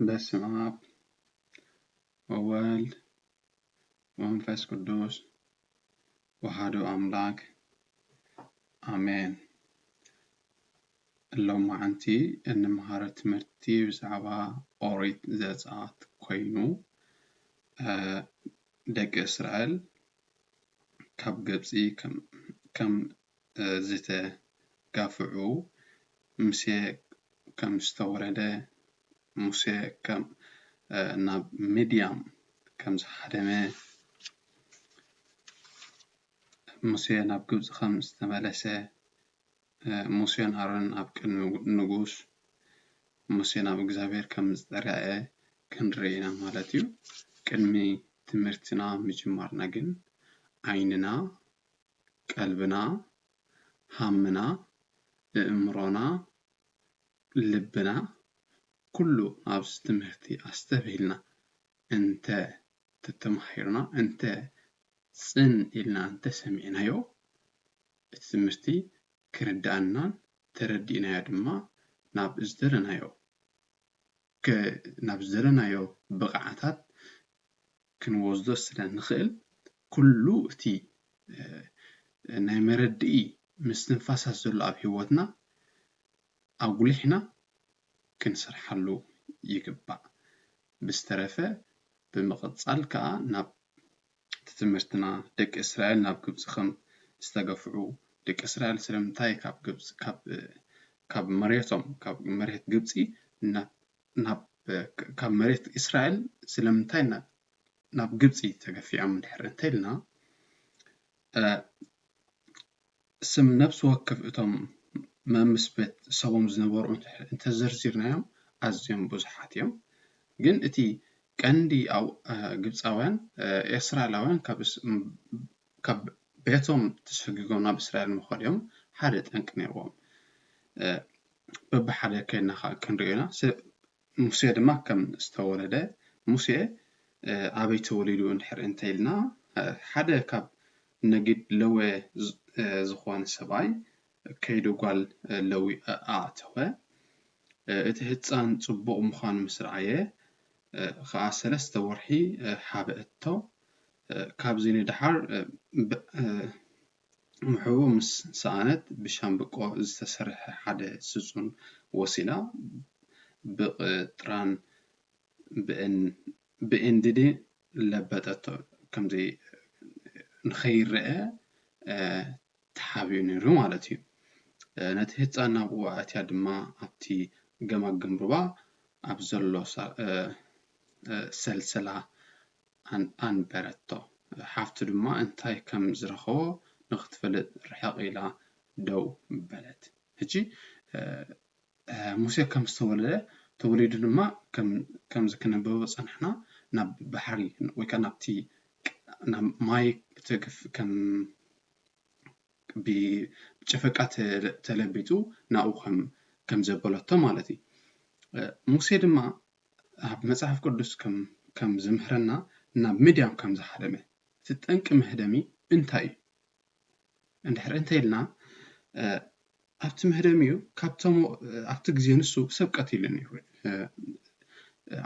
በስመ አብ ወወልድ ወመንፈስ ቅዱስ ወሃዱ አምላክ አሜን። ሎማዓንቲ እንመሃሮ ትምህርቲ ብዛዕባ ኦሪት ዘፀአት ኮይኑ ደቂ እስራኤል ካብ ግብፂ ከም ዝተጋፍዑ ሙሴ ከም ዝተወረደ ሙሴ ከም ናብ ምድያም ከም ዝሃደመ ሙሴ ናብ ግብጺ ከም ዝተመለሰ ሙሴን ኣሮንን ኣብ ቅድሚ ንጉስ ሙሴ ናብ እግዚኣብሔር ከም ዝተራየ ክንርኢ ኢና ማለት እዩ ቅድሚ ትምህርትና ምጅማርና ግን ዓይንና ቀልብና ሃምና እእምሮና ልብና ኩሉ ኣብዚ ትምህርቲ ኣስተብሂልና እንተ ተተማሂርና እንተ ጽን ኢልና እንተ ሰሚዕናዮ እቲ ትምህርቲ ክርድኣናን ተረዲእናዮ ድማ ናብ ዝደለናዮ ከ ናብ ዝደለናዮ ብቕዓታት ክንወስዶ ስለ ንኽእል፣ ኩሉ እቲ ናይ መረድኢ ምስትንፋሳት ዘሎ ኣብ ህይወትና ኣጉሊሕና ክንሰርሓሉ ይግባእ። ብዝተረፈ ብምቕጻል ከኣ ናብ እቲ ትምህርትና ደቂ እስራኤል ናብ ግብጺ ከም ዝተገፍዑ ደቂ እስራኤል ስለምንታይ ካብ ግብጺ ካብ ካብ መሬቶም ካብ መሬት ግብጺ ናብ ናብ ካብ መሬት እስራኤል ስለምንታይ ናብ ናብ ግብጺ ተገፊዖም እንድሕር እንተልና ስም ነፍሲ ወከፍ እቶም መምስ ቤት ሰቦም ዝነበሩ እንተ ዘርዚርናዮም ኣዝዮም ብዙሓት እዮም። ግን እቲ ቀንዲ ግብጻውያን ኤስራኤላውያን ካብ ቤቶም ተሰጒጎም ናብ እስራኤል ምዃዶም ሓደ ጠንቂ ነይርዎም። በብሓደ ከይድና ከኣ ክንርእዮ ኢና። ሙሴ ድማ ከም ዝተወለደ፣ ሙሴ ኣበይ ተወሊዱ እንድሕር እንተ ኢልና፣ ሓደ ካብ ነጊድ ለወ ዝኾነ ሰብኣይ ከይዱ ጓል ለዊ ኣእተወ። እቲ ህጻን ጽቡቕ ምዃኑ ምስ ረኣየ ኸኣ ሰለስተ ወርሒ ሓበአቶ። ካብዚ ንደሓር ምሕብኡ ምስ ሰኣነት ብሻምብቆ ዝተሰርሐ ሓደ ስጹን ወሲዳ ብቕጥራን ብኤንድድን ለበጠቶ። ከምዚ ንኸይረኣ ተሓቢኡ ነይሩ ማለት እዩ። ነቲ ህጻን ናብኡ ኣእትያ ድማ ኣብቲ ገማግም ሩባ ኣብ ዘሎ ሰልሰላ ኣንበረቶ። ሓፍቱ ድማ እንታይ ከም ዝረኸቦ ንኽትፈልጥ ርሕቕ ኢላ ደው በለት። ሕጂ ሙሴ ከም ዝተወልደ ተወሊዱ ድማ ከምዚ ክነበቦ ጸናሕና ናብ ባሕሪ ወይ ከኣ ናብቲ ናብ ማይ ትግፍ ከም ብጨፈቃ ተለቢጡ ናብኡ ከም ዘበለቶ ማለት እዩ። ሙሴ ድማ ኣብ መጽሓፍ ቅዱስ ከም ዝምህረና ናብ ምድያም ከም ዝሃደመ እቲ ጠንቂ መህደሚ እንታይ እዩ እንድሕር እንተኢልና ኣብቲ መህደሚ እዩ ካብቶም ኣብቲ ግዜ ንሱ ሰብ ቀቲሉ ነይሩ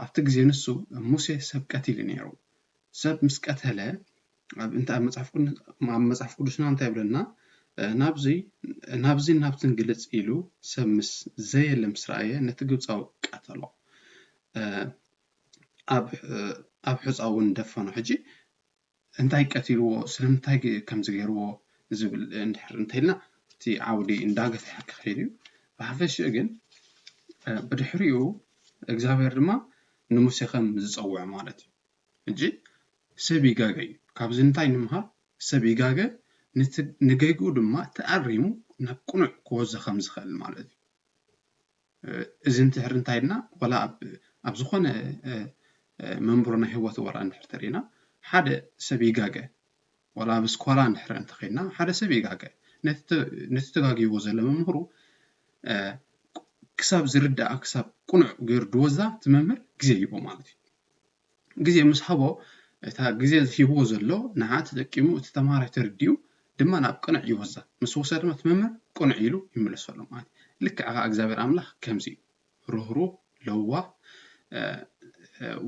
ኣብቲ ግዜ ንሱ ሙሴ ሰብ ቀቲሉ ነይሩ ሰብ ምስ ቀተለ እንተ ኣብ መጽሓፍ ቅዱስና እንታይ ይብለና ናብዚን ናብትን ግልጽ ኢሉ ሰብ ምስ ዘየለ ምስ ረኣየ ነቲ ግብፃዊ ቀተሎ ኣብ ሕፃ እውን ደፈኖ ሕጂ እንታይ ቀትልዎ ስለምንታይ ከምዚ ገይርዎ ዝብል እንድሕር እንተኢልና እቲ ዓውዲ እንዳገፍሐ ክኸይድ እዩ ብሓፈሽኡ ግን ብድሕሪኡ እግዚኣብሔር ድማ ንሙሴ ከም ዝፀውዖ ማለት እዩ ሕጂ ሰብ ይጋገ እዩ ካብዚ እንታይ ንምሃር ሰብ ይጋገ ንቲ ንገግኡ ድማ ተኣሪሙ ናብ ቅኑዕ ክወዞ ከም ዝኸእል ማለት እዩ እዚ እንትሕር እንታይ ኢልና ወላ ኣብ ኣብ ዝኾነ መንብሮ ናይ ህይወት ወራ እንድሕር ተሪና ሓደ ሰብ ይጋገ ወላ ኣብ ስኮላ እንድሕር እንተኸይና ሓደ ሰብ ይጋገ ነቲ ተጋጊዎ ዘሎ መምህሩ ክሳብ ዝርዳኣ ክሳብ ቅኑዕ ገይሩ ድወዛ እቲ መምህር ግዜ ይህቦ ማለት እዩ ግዜ ምስ ሃቦ እታ ግዜ ሂብዎ ዘሎ ንዓ ተጠቂሙ እቲ ተምሃራይ ተርዲኡ ድማ ናብ ቅኑዕ ይወስዳ ምስ ወስዳ ድማ እቲ መምህር ቅኑዕ ኢሉ ይምለሰሉ ማለት እዩ ልክዕ ከኣ እግዚኣብሔር ኣምላኽ ከምዚ እዩ ርህሩህ ለዋህ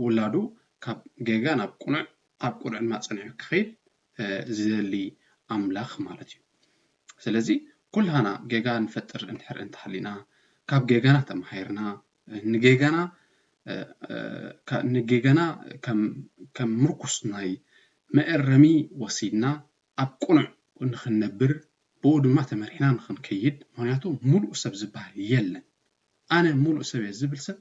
ውላዱ ካብ ጌጋ ናብ ቅኑዕ ካብ ቅኑዕ ድማ ጸኒዑ ክኸይድ ዝደሊ ኣምላኽ ማለት እዩ። ስለዚ ኩላህና ጌጋ ንፈጥር እንድሕር እንተሃሊና ካብ ጌጋና ተማሂርና ንጌጋና ንጌጋና ከም ምርኩስ ናይ መእረሚ ወሲድና ኣብ ቅኑዕ ንኽንነብር ብኡ ድማ ተመሪሕና ንኽንከይድ ምኽንያቱ ምሉእ ሰብ ዝበሃል የለን ኣነ ምሉእ ሰብ እየ ዝብል ሰብ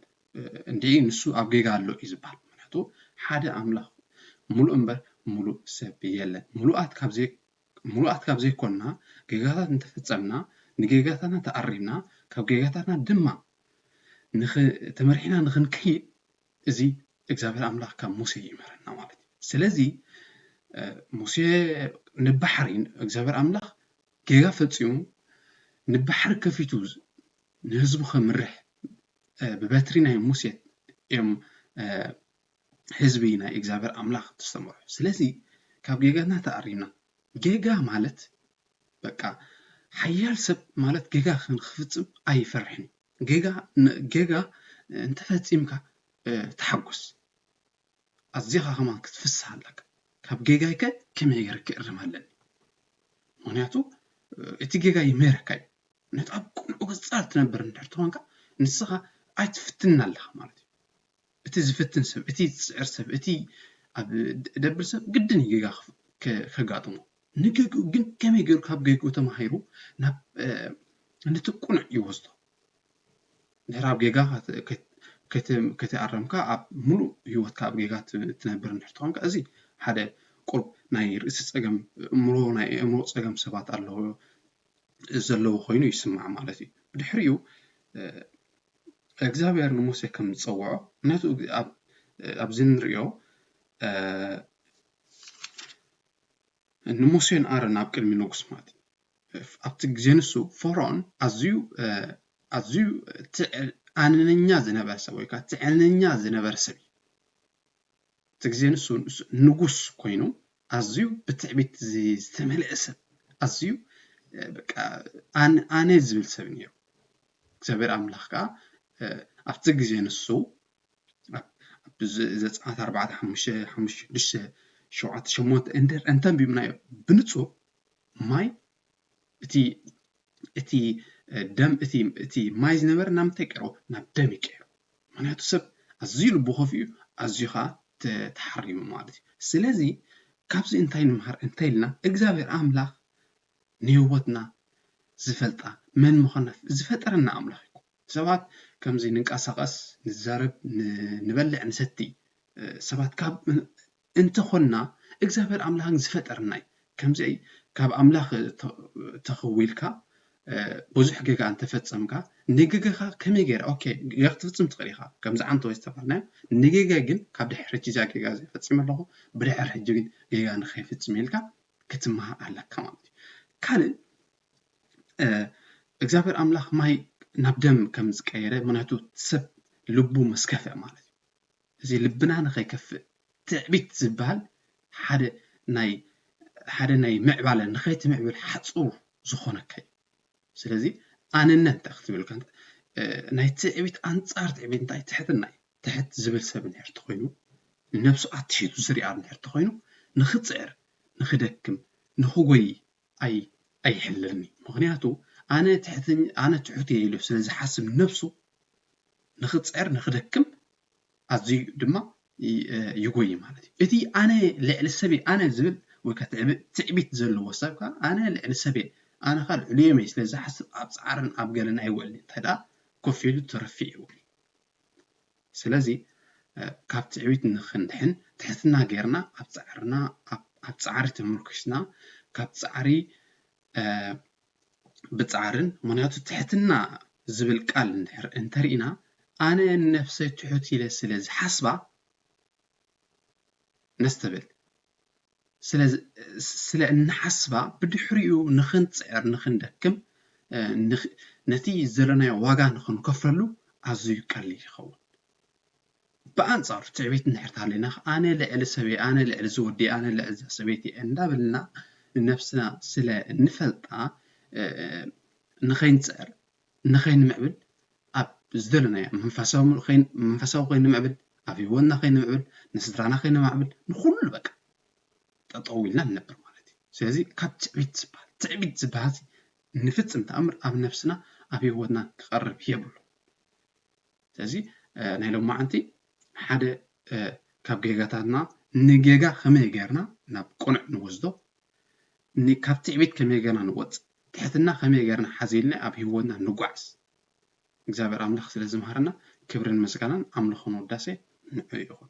እንድዒ ንሱ ኣብ ጌጋ ኣሎ እዩ ዝበሃል። ምኽንያቱ ሓደ ኣምላኽ ምሉእ እምበር ምሉእ ሰብ የለን። ምሉኣት ካብ ዘይ ምሉኣት ካብ ዘይኮንና ጌጋታት እንተፈጸምና ንጌጋታትና ተኣሪምና ካብ ጌጋታትና ድማ ንኽ ተመሪሕና ንኽንከይድ እዚ እግዚኣብሔር ኣምላኽ ካብ ሙሴ ይምህረና ማለት እዩ። ስለዚ ሙሴ ንባሕሪ እግዚኣብሔር ኣምላኽ ጌጋ ፈጺሙ ንባሕሪ ከፊቱ ንህዝቡ ኸምርሕ ብበትሪ ናይ ሙሴ እዮም ህዝቢ ናይ እግዚኣብሔር ኣምላኽ ዝተመርሑ። ስለዚ ካብ ጌጋትና ተኣሪምና ጌጋ ማለት በቃ ሓያል ሰብ ማለት ጌጋ ክንክፍጽም ኣይፈርሕን እዩ። ጌጋ ጌጋ እንተፈጺምካ ተሓጎስ ኣዚኻ ከማን ክትፍስህ ኣለካ። ካብ ጌጋይከ ከመይ ገይረ ክእርም ኣለኒ? ምክንያቱ እቲ ጌጋ ይምህረካ እዩ። ነቲ ኣብ ቅኑዕ ገጻ ትነብር እንድሕር ተኾንካ ንስኻ ኣይትፍትንን ኣለኻ ማለት እዩ። እቲ ዝፍትን ሰብ እቲ ዝጽዕር ሰብ እቲ ኣብ ደብር ሰብ ግድን እዩ ጌጋ ከጋጥሞ። ንጌግኡ ግን ከመይ ጌሩ ካብ ጌግኡ ተማሂሩ ናብ ነቲ ቅኑዕ ይወስዶ። ድሕሪ ኣብ ጌጋ ከይተኣረምካ ኣብ ምሉእ ህይወትካ ኣብ ጌጋ ትነብር እንድሕር ተኾንካ እዚ ሓደ ቁሩብ ናይ ርእሲ ጸገም እምሮ ናይ ኣእምሮ ጸገም ሰባት ኣለዎ ዘለዎ ዀይኑ ይስማዕ ማለት እዩ። ብድሕሪኡ፣ እግዚኣብሄር ንሙሴ ከም ዝጸውዖ፣ ነቲ ኣብዚ እንርእዮ ንሙሴን ኣሮንን ኣብ ቅድሚ ንጉስ ማለት እዩ። ኣብቲ ግዜ ንሱ ፈርኦን ኣዝዩ ኣዝዩ ትዕቢተኛ ዝነበረ ሰብ ወይ ከዓ ትዕቢተኛ ዝነበረ ሰብ እቲ ግዜ ንሱ ንጉስ ኮይኑ ኣዝዩ ብትዕቢት ዝተመልአ ሰብ ኣዝዩ ኣነ ዝብል ሰብ እዩ ነይሩ እግዚኣብሔር ኣምላኽ ከዓ ኣብቲ ግዜ ንሱ ዘፀኣት ኣርባዕተ ሓሙሽተ ሓሙሽተ ሽዱሽተ ሸውዓተ ሸሞንተ እንድህር እንተንቢብናዮ ብንፁር ማይ እቲ እቲ ደም እቲ እቲ ማይ ዝነበረ ናብ ምንታይ ቀይርዎ ናብ ደም እዩ ቀይርዎ ምክንያቱ ሰብ ኣዝዩ ልቡ ከፊኡ ኣዝዩ ከዓ ተሓሪሙ ማለት እዩ ስለዚ ካብዚ እንታይ ንምሃር እንታይ ኢልና እግዚኣብሔር ኣምላክ ንህይወትና ዝፈልጣ መን ምኳና ዝፈጠረና ኣምላክ እዩ ሰባት ከምዚ ንንቀሳቀስ ንዛረብ ንበልዕ ንሰቲ ሰባት ካብ እንተ ኾንና እግዚኣብሔር ኣምላክን ዝፈጠርናይ ከምዚይ ካብ ኣምላክ ተኸዊልካ ቡዙሕ ገጋ እንተ ፈጸምካ ንገገኻ ከመይ ገይረ ኦኬ ገጋ ክትፍጽም ትኽእል ኢኻ ከምዚ ዓንተወይ ዝተባህልናዮ ንገገ ግን ካብ ድሕሪ ሕጂ እዛ ገጋ እዚኣ ፈጺመ ኣለኹ ብድሕሪ ሕጂ ግን ገጋ ንኸይፍጽም ኢልካ ክትማሃር ኣለካ ማለት እዩ ካልእ እግዚኣብሔር ኣምላክ ማይ ናብ ደም ከም ዝቀየረ ምክንያቱ ሰብ ልቡ ምስ ከፍእ ማለት እዩ እዚ ልብና ንኸይከፍእ ትዕቢት ዝብሃል ሓደ ናይ ሓደ ናይ ምዕባለ ንኸይትምዕብል ሓጹር ዝኾነካ እዩ። ስለዚ ኣነነት እንታይ ክትብል እኳ እንተ ናይ ትዕቢት ኣንጻር ትዕቢት እንታይ ትሕትና እዩ። ትሕት ዝብል ሰብ እንድሕር ተኾይኑ ንነብሱ ኣትሒቱ ዝርኣ እንድሕር ተኾይኑ ንኽጽዕር ንኽደክም ንኽጎዪ ኣይ ኣይሕልልኒ ምክንያቱ ኣነ ትሕት ኣነ ትሑት እየ ኢሉ ስለ ዝሓስብ ነብሱ ንክጽዕር ንክደክም ኣዝዩ ድማ ይጎይ ማለት እዩ እቲ ኣነ ልዕሊ ሰብ ኣነ ዝብል ወይ ከ ትዕቢት ዘለዎ ሰብ ከ ኣነ ልዕሊ ሰብ እየ ኣነ ከ ልዕሊኦም እየ ስለ ዝሓስብ ኣብ ጻዕርን ኣብ ገለን ኣይውዕልን እንታይ ደኣ ኮፍ ኢሉ ትርፊ ይውዕል ስለዚ ካብ ትዕቢት ንኽንድሕን ትሕትና ጌርና ኣብ ጻዕርና ኣብ ጻዕሪ ተመርኩስና ካብ ጻዕሪ ብጻዕርን ምኽንያቱ ትሕትና ዝብል ቃል እንድሕር እንተሪእና ኣነ ንነፍሰይ ትሑት ኢለ ስለ ዝሓስባ ነስተብል ስለ እንሓስባ ብድሕሪኡ ንኽንጽዕር ንኽንደክም ነቲ ዘለናዮ ዋጋ ንኽንከፍለሉ ኣዝዩ ቀሊል ይኸውን። ብኣንጻሩ ትዕቢት እንድሕር ተሃልዩና ኣነ ልዕሊ ሰበይ ኣነ ልዕሊ እዚ ወዲ ኣነ ልዕሊ እዛ ሰበይቲ እየ እንዳበልና ንነብስና ስለ እንፈልጣ ንኸይንጽዕር ንኸይንምዕብል ኣብ ዝደለናዮ መንፈሳዊ ከይንምዕብል ኣብ ህይወትና ከይንምዕብል ንስድራና ከይነማዕብል ንኹሉ በቃ ጠጠው ኢልና ንነብር ማለት እዩ ስለዚ ካብ ትዕቢት ዝበሃል ትዕቢት ዝበሃል ንፍፅም ተኣምር ኣብ ነፍስና ኣብ ህይወትና ክቐርብ የብሉ ስለዚ ናይ ሎማዓንቲ ሓደ ካብ ጌጋታትና ንጌጋ ከመይ ጌርና ናብ ቅኑዕ ንወስዶ ካብ ትዕቢት ከመይ ጌርና ንወጽእ ትሕትና ከመይ ጌርና ሓዚልና ኣብ ህይወትና ንጓዓዝ እግዚኣብሔር ኣምላኽ ስለ ዝምሃረና ክብርን ምስጋናን ኣምልኾን ውዳሴ ንዑ ይኹን